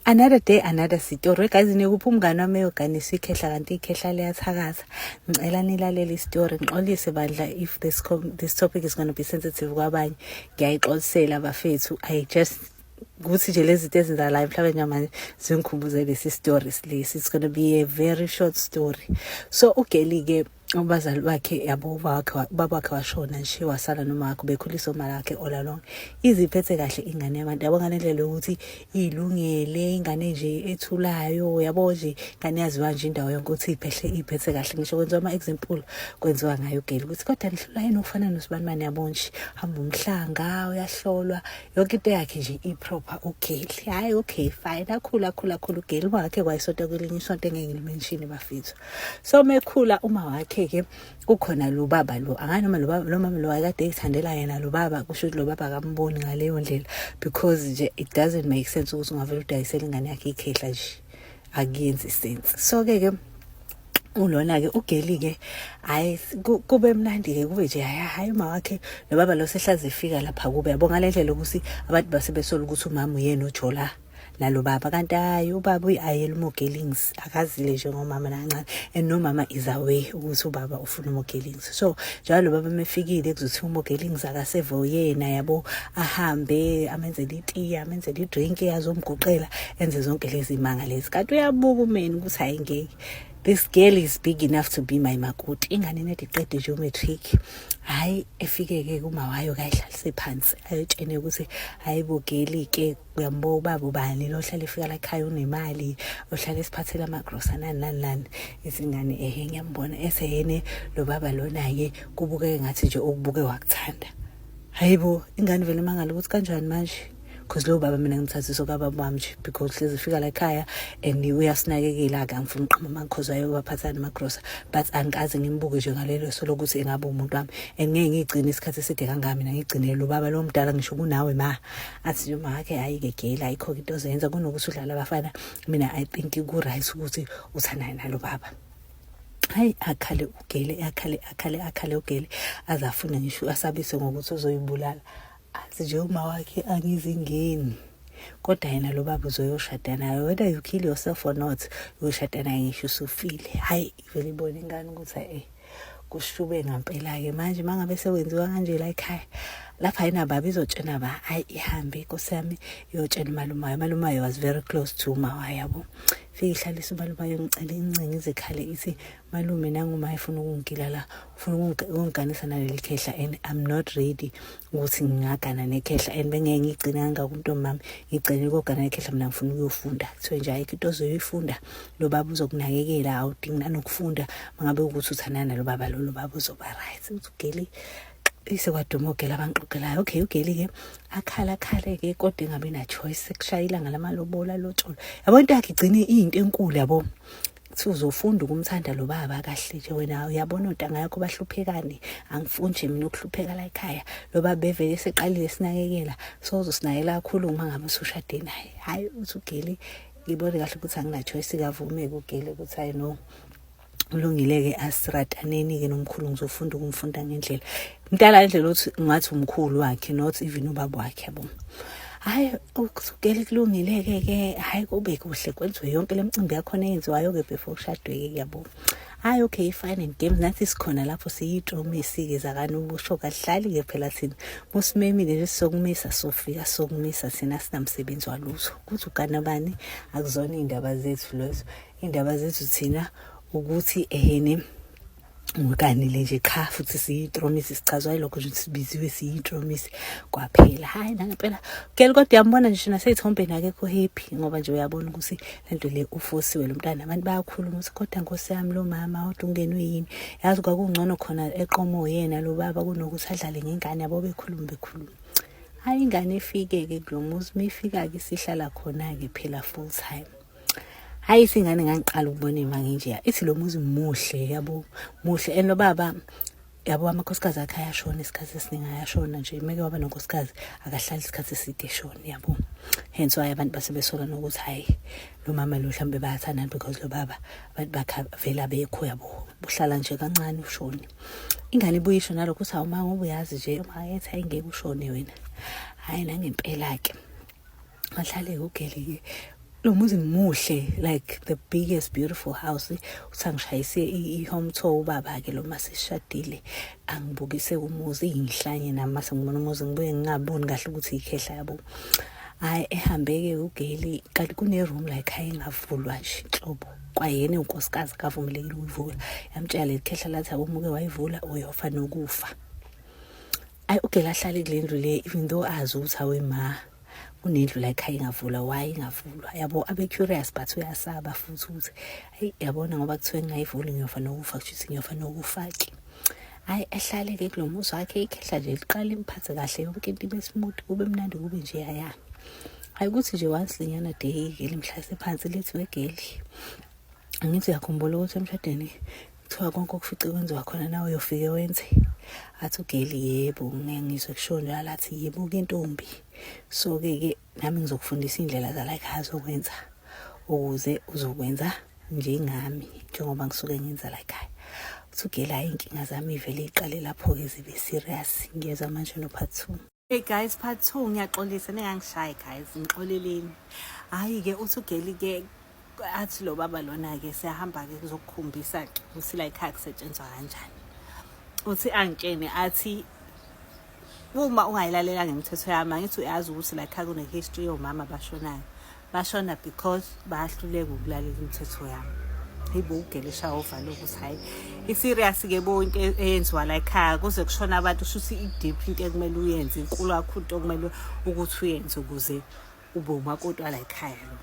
another day another story guys nikuphi umngane wami eyoganisa ikhehla kanti ikhehla liyathakaza ngicela nilalele istory ngixolise bandla if this, this topic is going to be sensitive kwabanye ngiyayixolisela bafethu i just kuthi nje lezi zinto ezenzakalayo mhlawumbe njengamanje zingikhumbuze lesi story lesi it's going to be a very short story so ugeli-ke ubazali bakhe yabo ubaba wakhe washona nje wasala noma wakhe bekhulisa uma lakhe ola lonke iziphethe kahle ingane yabantu yabo ngale ndlela yokuthi ilungele ingane nje ethulayo yabo nje ingane yaziwa nje indawo yonke ukuthi iphehle iphethe kahle ngisho kwenziwa ama-example kwenziwa ngayo geli ukuthi kodwa nihlula yini ukufana nosibanibani yabo nje hamba umhlanga uyahlolwa yonke into yakhe nje iproper ugeli hhayi okay fine akhulu akhulu akhulu ugeli wakhe kwayisonto kwelinye isonto engeke ngilimeshini bafethu so mekhula uma wakhe ke kukhona lo baba lo angani noma lo baba lo mama lo akade ekuthandela yena lo baba kusho ukuthi lo baba akamboni ngaleyo ndlela because nje it doesn't make sense ukuthi ungavela udayisela ingane yakhe ikhehla nje akuyenzi sense so ke ke ulona ke ugeli ke hayi kube mnandi ke kube nje hayi hayi uma wakhe nobaba lo sehlaze efika lapha kube yabonga lendlela ukuthi abantu basebesola ukuthi umama uyena ojola nalo baba kanti hayi ubaba uyi-ayela umogelings akazile njengomama nancane and nomama is away ukuthi ubaba ufuna umogelings so njalo lo baba mefikile kuzothi umogelings akaseve uyena yabo ahambe amenzele itiye amenzele idrink azomguqela enze zonke lezi manga lezi kanti uyabuka umeni ukuthi hayi ngeke this girl is big enough to be my makoti ingane nedi qede nje umatric hayi efike-ke kumawayo kayidlalise phansi ayotshene ukuthi hayi bogeli-ke uyambuka ubaba ubani lo ohlala efika la ekhaya unemali ohlala esiphathela amagrosa nani nani nani izingane ehe ngiyambona eseyene lo baba lona-ke kubukeke ngathi nje okubuke wakuthanda hayi bo ingane vele mangala ukuthi kanjani manje because lowo baba mina ngimthathisa okababa wami nje because hlezi ufika la ekhaya and uyasinakekela ake angifuni uqhama amakhozi wayo baphathana amagrosa but angikaze ngimbuke nje ngalelo so lokuthi engabe umuntu wami and ngeke ngigcine isikhathi eside kangaka mina ngigcinele lo baba lo mdala ngisho kunawe ma athi noma hake ayike gele ayikho into ozoyenza kunokuthi udlala abafana mina i think ku-right ukuthi uthandane nalo baba hayi akhale ugele akhale akhale akhale ugele azafune ngisho asabise ngokuthi uzoyibulala athi nje uma wakhe angizingeni kodwa yena lo baba uzoyoshada naye whether you kill yourself or not uyoshada naye ngisho usufile hayi vele ibone ingane ukuthi e-e kushube ngampela-ke manje uma ngabe sewenziwa kanje la ekhaya lapha yena baba izotshena ba ayi ihambe inkosi yami iyotshena umalumayo umalumayo was very close to umawa yabo fike ihlalisa umalumayo ngicela incinga izikhale ithi malume nangumaye funa ukungigila la ufuna ukungiganisa naleli khehla and i'm not ready ukuthi ngingagana nekhehla and bengeke ngigcine kangaka umntombi mami ngigcine kogana nekhehla mina ngifuna ukuyofunda kuthiwe nje ayikho into ozoyifunda lo baba uzokunakekela awudingi nanokufunda mangabe ukuthi uthandana nalo baba lo lo baba uzoba right uthi ugeli ise kwaduma ugela abanqoqelayo okay ugeli ke akhala khale ke kodwa engabe na choice sekushayila ngalamalobola lotsholo yabo into yakhe igcine into enkulu yabo kuthi uzofunda ukumthanda lo baba kahle nje wena uyabona ontanga yakho bahluphekani angifuni nje mina ukuhlupheka la ekhaya lo baba bevele seqalile sinakekela sozosinakela kakhulu uma ngabe usushade naye hhayi uthi ugeli ngibone kahle ukuthi anginachoice kavumeke ugeli ukuthi hayi no kulungile-ke asirataneni-ke nomkhulu ngizofunda ukumfunda ngendlela mdala indlela othi ngathi umkhulu wakhe not even ubaba wakhe yabo hayi ukusukela kulungile-ke ke hayi kube kuhle kwenziwe yonke le mcimbi yakhona eyenziwayo-ke before kushadwe-ke kuyabo hayi okay fine and games nathi sikhona lapho siyitromisi-ke zakani ukusho kahlali-ke phela thina musimemile nje sizokumisa sofika sokumisa thina sinamsebenzi walutho kuthi ukanabani akuzona iy'ndaba zethu lezo iy'ndaba zethu thina ukuthi ehene ngikanile nje qha futhi siyitromisi sichazwa yilokho nje sibiziwe siyitromisi kwaphela hayi nangempela gel kodwa uyambona nje naseyithombeni akekho happy ngoba nje uyabona ukuthi lento le ufosiwe lo mntana abantu bayakhuluma ukuthi kodwa nkosi yami lo mama kodwa ungenwe yini yazi kwakungcono khona eqomo yena lo baba kunokuthi adlale ngengane yabo bekhuluma bekhuluma hayi ingane ifike-ke kulo muzi uma ifika-ke sihlala khona-ke phela full time hayi singane ngangiqala ukubona imanga nje ithi lo muzi muhle yabo muhle and lo baba yabo amakhosikazi akhe ayashona isikhathi esiningi ayashona nje meke waba nonkosikazi akahlali isikhathi eside eshona yabo hence why abantu base besola nokuthi hayi lo mama lo mhlawumbe bayathandana because lo baba abantu bakhe vele abekho yabo buhlala nje kancane ushone ingane ibuye isho nalokho ukuthi awuma ngoba uyazi nje uma ethi hayi ngeke ushone wena hayi nangempela-ke Mahlale ugeli lo muzi muhle like the biggest beautiful house uthi angishayise i-home tour ubaba-ke lo ma sishadile angibukise umuzi iyinhlanye nami mase ngibona umuzi ngibuye ngingaboni kahle ukuthi yikhehla yabo hayi ehambeke ugeli kanti kune-room like hayi ingavulwa nje nhlobo kwayena unkosikazi kavumelekile ukuyivula yamtshela leli khehla lathi abomuke wayivula uyofa nokufa ayi ugeli ahlale kule ndlu le even though azi ukuthi awema kunendlu la ekhaya ingavulwa why ingavulwa yabo abe curious but uyasaba futhi ukuthi ayi yabona ngoba kuthiwe ngingayivuli ngiyofa nokufa kushuthi ngiyofa nokufa ke hayi ehlale ke kulo muzi wakhe ikhehla nje liqala imphathe kahle yonke into ibe smooth kube mnandi kube nje yaya hayi ukuthi nje once linyana day ke limhlase phansi lithi wegeli angithi uyakhumbula ukuthi emshadweni kuthiwa konke okufice kwenziwa khona nawe uyofike wenze athi ugeli yebo ngizwe kusho njalo athi yebo ke ntombi so-ke ke nami ngizokufundisa iy'ndlela zalayikhaya azokwenza ukuze uzokwenza njengami njengoba ngisuke ngenza layikhaya uthi ugeli hhayi iy'nkinga zami ivele iqale lapho-ke zibe serious ngiyezwa manje no-part two Hey guys part 2 ngiyaxolisa ningangishayi guys ngixoleleni. Hayi ke uthi ugeli ke athi lo baba lona ke siyahamba ke kuzokukhombisa ukuthi la ikhaya kusetshenzwa kanjani. Uthi angitshene athi uma ungayilalela ngemithetho yami angithi uyazi ukuthi la ikhaya kune history yomama abashonayo. bashona because bayahluleka ukulalela imithetho yami yibo ugelisha ova lokhu ukuthi hhayi i-serious-ke bo into e-, eyenziwa la ekhaya kuze kushona abantu shuthi i-deep into ekumele uyenze inkulu kakhulu into okumele ukuthi uyenze ukuze ube umakoti wala ekhaya lo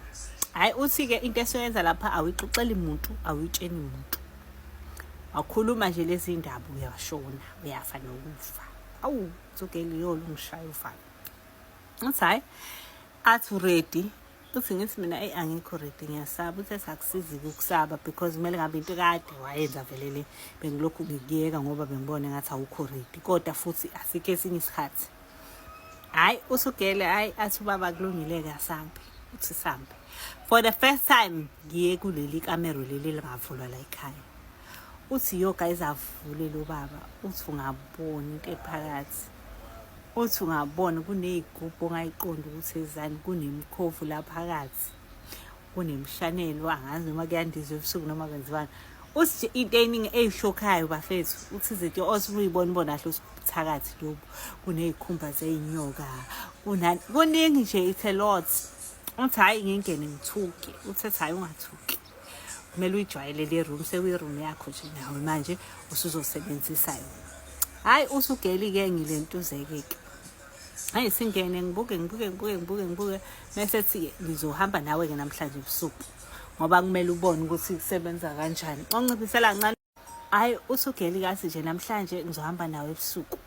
hhayi uthi-ke into esoyenza lapha awuyixoxeli muntu awuyitsheni muntu wakhuluma nje lezi ndaba uyashona uyafa nokufa awu zogeli yolo ungishaye ufana ngathi hhayi athi ready uthi ngithi mina eyi angikho ready ngiyasaba uthi esakusizi ukusaba because kumele ngabe into kade wayenza vele le bengilokhu ngikuyeka ngoba bengibone ngathi awukho ready kodwa futhi asikho esinye isikhathi hhayi usugele hhayi athi ubaba kulungile-ke asambe uthi sambe for the first time ngiye kuleli kamero leli lingavulwa la ekhaya uthi yo guys avule lo baba uthi ungaboni into ephakathi othi ungabona kuney'gubhu ongayiqondi ukuthi ezani kunemkhovu la phakathi kunemshanelo angazi noma kuyandizwa ebusuku noma kwenziwani uthi into eningi eyishokhayo bafethu uthi izinto osuke uyibona ubona kahle usithakathi lobu kuney'khumba zey'nyoka kunani kuningi nje it's a lot uthi hhayi ngingene ngithuke uthi ethi hhayi ungathuki kumele uyijwayele le room sekuyi-room yakho nje nawe manje usuzosebenzisa yona hhayi usugeli-ke ngilentuzeke-ke hayi singene ngibuke ngibuke ngibuke ngibuke ngibuke mese thi ngizohamba nawe-ke namhlanje ebusuku ngoba kumele ubone ukuthi kusebenza kanjani onciphisela kancane Hayi usugeli kathi nje namhlanje ngizohamba nawe ebusuku.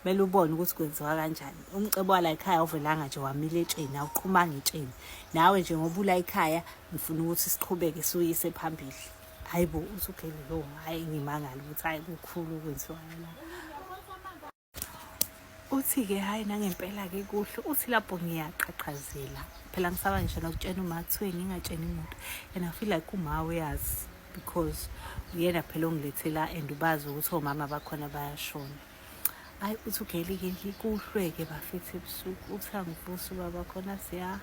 Mele ubone ukuthi kwenziwa kanjani. Umcebo wala ekhaya uvelanga nje wamile etsheni awuqhumanga etsheni. Nawe nje ngoba ula ekhaya ngifuna ukuthi siqhubeke suyise phambili. Hayibo usugeli lo hayi ngimangala ukuthi hayi kukhulu kwenziwa la. uthi-ke hhayi nangempela-ke kuhle uthi lapho ngiyaqhaqhazela phela ngisaba ngisho nokutshena uma kuthiwe ngingatsheni muntu and i feel like uma uyazi because uyena phela ongilethela and ubazi ukuthi omama bakhona bayashona hayi uthi ugelike nje kuhlweke bafethe ebusuku uthi angivusa ubaba khona siya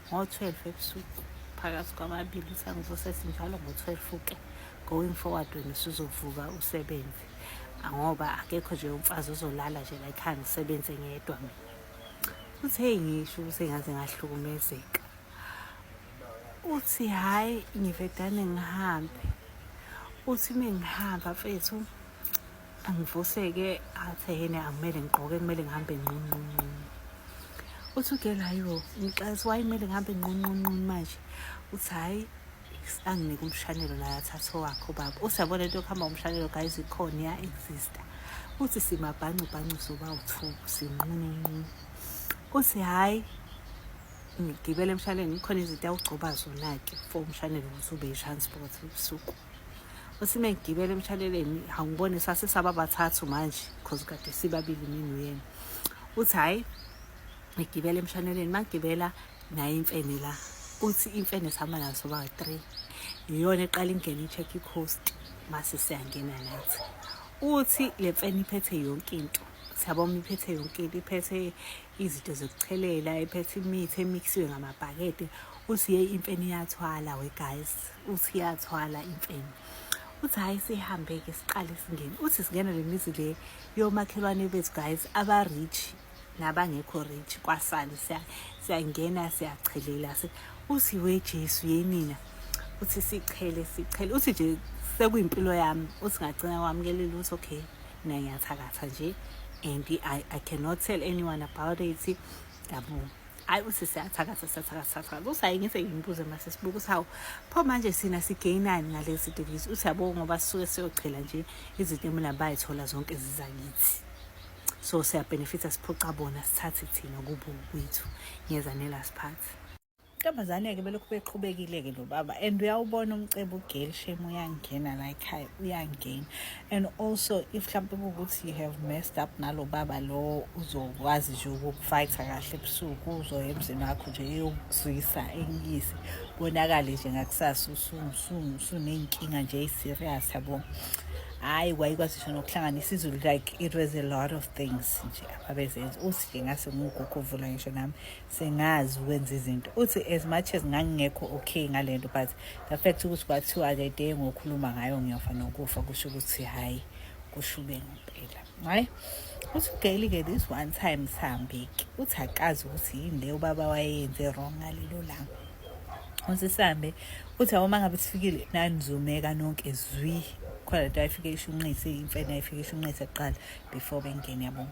ngo-twelve ebusuku phakathi kwamabili uthi angivuse sinjalo ngo-twelve uke going forward wena usuzovuka usebenze ngoba akekho nje umfazi uzolala nje la ekhaya ngisebenze ngedwa mina uthi heyi ngisho ukuthi ngaze ngahlukumezeka uthi hhayi ngivedane ngihambe uthi uma ngihamba mfethu angivuseke athe yena akumele ngigqoke kumele ngihambe nqunqunqunu uthi ugelayo ngixaisa wayimele ngihambe nqunqunqunu manje uthi hhayi anginike umshanelo naye athathe owakhe ubaba usiyabona into yokuhamba umshanelo guys ikhona iya exista uthi simabhancu bhancu soba uthuku sinqununqunu uthi hhayi ngigibele emshanelweni kukhona izinto awugcoba zona-ke for umshanelo ukuthi ube i-transport ubusuku uthi uma ngigibele emshanelweni awungibone sasisaba bathathu manje because kade sibabili mina uyena uthi hhayi ngigibele emshanelweni uma ngigibela naye imfene la uthi imfene sihamba nayo soba three yiyona eqala ingene i-check i-coast mase siyangena nathi uthi le mfene iphethe yonke into siyabona iphethe yonke into iphethe izinto zokuchelela iphethe imithi emixiwe ngamabhakede uthi yeyi imfene iyathwala we guys uthi iyathwala imfene uthi hhayi sihambe-ke siqale singene uthi singena le mizi le yomakhelwane bethu guys aba-rich nabangekho rich kwasani siyangena siyachelela uthi we Jesu yenina uthi sichele sichele uthi nje sekuyimpilo yami uthi ngagcina kwamukela lutho okay mina ngiyathakatha nje and I, I cannot tell anyone about it yabo hayi uthi siyathakatha siyathakatha uthi hayi ngise ngimbuze mase sibuka uthi hawu pho manje sina sigainani ngalezi device uthi yabo ngoba sisuke siyochela nje izinto emina bayithola zonke zizakithi so siyabhenefitha siphuca bona sithathe thina kubo kwethu ngeza nelast part ntombazane-ke belokhu beqhubekile-ke lo baba and uyawubona umcebo ugeli shame uyangena la ekhaya uyangena and also if mhlawumpe kuwukuthi you have messed up nalo baba lo uzokwazi nje ukukufayitha kahle ebusuku uzoya emzini wakho nje eyokuzwisa enyise bonakale nje ngakusasa usuney'nkinga nje eyi-serious yabo hayi wayikwazi nokuhlanganisa izulu like it was a lot of things nje ababezenza uthi nje ngase ngugogo vula ngisho nami sengazi ukwenza izinto uthi as much as ngangingekho okay ngale nto but the fact ukuthi kwathiwa-ke de ngokhuluma ngayo ngiyofa nokufa kusho ukuthi hhayi kushube ngempela hayi uthi ugeyili-ke this one time sihambeki uthi akazi ukuthi yini le ubaba wayeyenze wrong ngalelo langa usisambe uthi awoma ngabe sifikile nanizumeka nonke zwi khona lento ayifike ishunqise imfene ayifike ishunqise kuqala before bengene yabo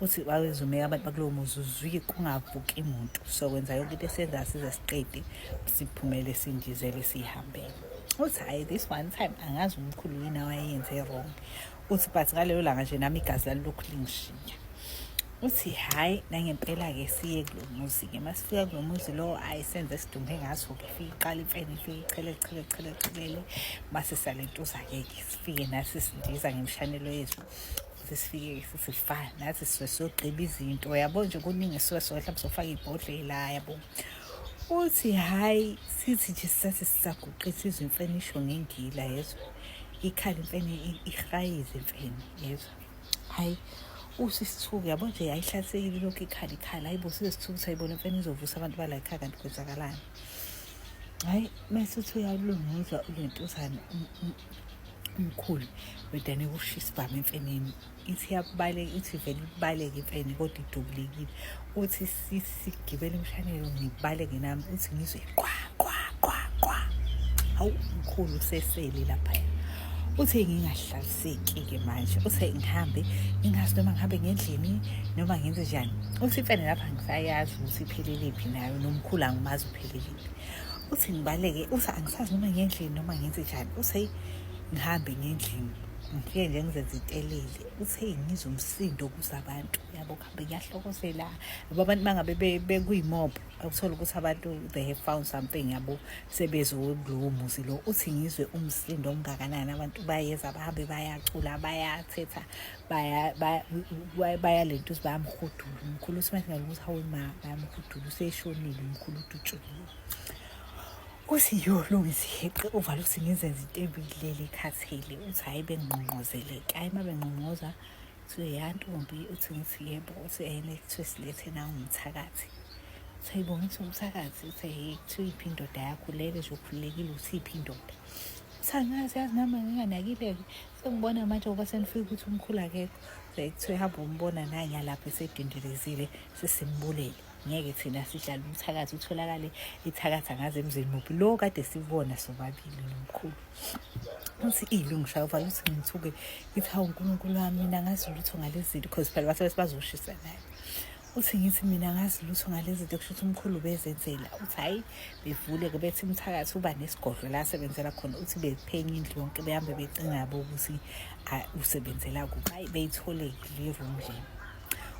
uthi wawezumeka abantu bakulowo muzi uzwike kungavuki muntu so wenza yonke into esenza size siqede siphumele sindizele sihambele uthi hhayi this one time angazi umkhulu yini awayenze wrong uthi but ngalelo langa nje nami igazi lalilokhu lingishiya uthi hhayi nangempela-ke siye kulo muzi-ke uma sifika kulo muzi lowo ayi senze sidumbe ngaso-ke fike iqala imfene ifike ichele chele chele chelele uma sisale ntuza-ke-ke sifike nathi sindiza ngemshanelo yethu ukuthi sifike futhi sifane nathi sisuke siyogqiba izinto yabo nje kuningi sisuke sona mhlawumbe sofaka ibhodlela yabo uthi hhayi sithi nje sisathi sisaguqisa izimfenisho ngengila yezwa ikhala imfene igrayize imfene yezwa hayi usisithuku yabo nje ayihlasekile lokhu ikhala ikhala hayi bo sisithuku sayibona imfene izovusa abantu bala ikhaya kanti kwenzakalani hayi mase uthi uyalunguzwa ulentuzane umkhulu wedane kushisa ibhama emfeneni ithi yabaleka ithi vele ibaleke imfene kodwa idubulekile uthi sigibela imshanelo ngibaleke nami uthi ngizwe qwa qwa qwa qwa hawu mkhulu usesele lapha uthi ngingahlaliseki-ke manje uthi ngihambe ngingazi noma ngihambe ngendlini noma ngenze njani uthi imfene lapha ngisayazi ukuthi ipheleliphi nayo nomkhulu angimazi upheleliphi uthi ngibaleke uthi angisazi noma ngendlini noma ngenze njani uthi ngihambe ngendlini ngifike nje ngizenza itelele uthe ngizwa umsindo okuza abantu yabo kuhambe kuyahlokozela yabo abantu bangabe bekuyimob ukuthola ukuthi abantu they have found something yabo sebezokulowo muzi lo uthi ngizwe umsindo omngakanani abantu bayeza bahambe bayacula bayathetha bayalento ukuthi bayamhudula umkhulu uthi manje ngalokuthi hawu ma bayamhudula useshonile umkhulu udutshuliwe Uthi yo lungisa iheqe uvale uthi ngizenza into ebilele ikhathele uthi hhayi bengqongqozeleke hhayi uma bengqongqoza kuthiwe yantombi uthi ngithi yebo uthi ene kuthiwe silethe nangumthakathi uthi hayi bonisa umthakathi uthi hhayi kuthiwe iphi indoda yakho lele nje ukhululekile uthi iphi indoda uthi angazi yazi nami nginganakile-ke sengibona manje ngoba senifika ukuthi umkhulu akekho kuthiwe hamba umbona nanyalapho esedindelezile sesimbulele ngeke thina sihlala umthakathi utholakale ithakatha ngaze emzini muphi lo kade sibona sobabili nomkhulu uthi ilungisha uvala uthi ngithuke ngithi hawu unkulunkulu wami mina ngazi lutho ngale zinto because phela basebethi bazoshisa naye uthi ngithi mina ngazi lutho ngale zinto kusho ukuthi umkhulu bezenzela uthi hhayi bevule-ke bethi umthakathi uba nesigodlo la asebenzela khona uthi bephenya indlu yonke behambe becingabo ukuthi usebenzela kuphi hhayi beyithole le room lena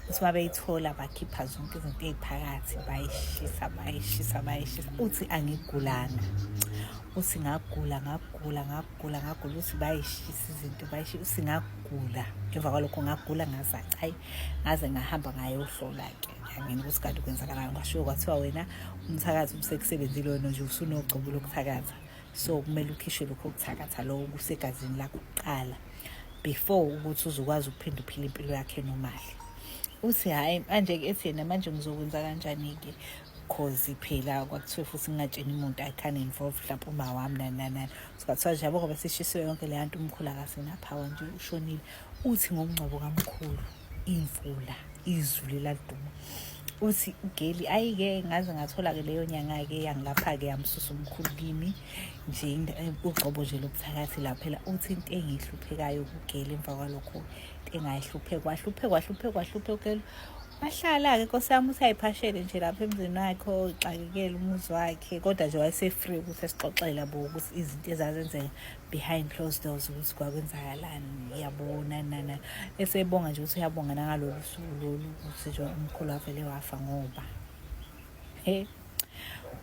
uthi babeyithola bakhipha zonke izinto ey'phakathi bayishisa bayishisa bayishisa uthi angigulanga uthi ngagula ngagula ngagula ngagula uthi bayishisa izinto bayishisa uthi ngagula emva kwalokho ngagula ngazaca hayi ngaze ngahamba ngayohlola-ke angini ukuthi kanti kwenzakalani kwashiwo kwathiwa wena umthakathi ubusekusebenzile wena nje usunogcobo lokuthakatha so kumele ukhishwe lokho kuthakatha lowo kusegazini lakho kuqala before ukuthi uzokwazi ukuphinde uphile impilo yakhe nomali uthi hhayi manje-ke ethi yena manje ngizokwenza kanjani-ke cause phela kwakuthiwe futhi ngingatsheni umuntu i can involve mhlawumpe uma wami nani nani nani so kwathiwa nje yabo ngoba sishisiwe yonke leya nto umkhulu akasenaphawa nje ushonile uthi ngomngcwabo kamkhulu imvula izulu eladuma uthi ugeli ayike ngaze ngathola-ke leyo nyanga-ke yangilapha-ke yamsusa umkhulu kimi nje eh, ugxobo nje lobuthakathi la phela uthi into engiyihluphekayo kugeli emva kwalokho into engayihlupheka wahlupheka wahlupheka wahlupheka ugeli wahlala-ke nkosi yami uthi ayiphashele nje lapha emzini wakhe oxakekele umuzi wakhe kodwa nje wayese-free ukuthi esixoxele bo ukuthi izinto ezazenzeka behind closed doors ukuthi kwakwenzakalani uyabona nana esebonga nje ukuthi uyabonga nangalolu suku lolu ukuthi nje umkhulu avele wafa ngoba he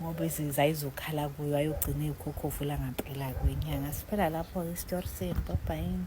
ngoba izinza izokhala kuyo ayogcina ikhokhovu langempela kwenyanga siphela lapho-ke isitori senu babhayini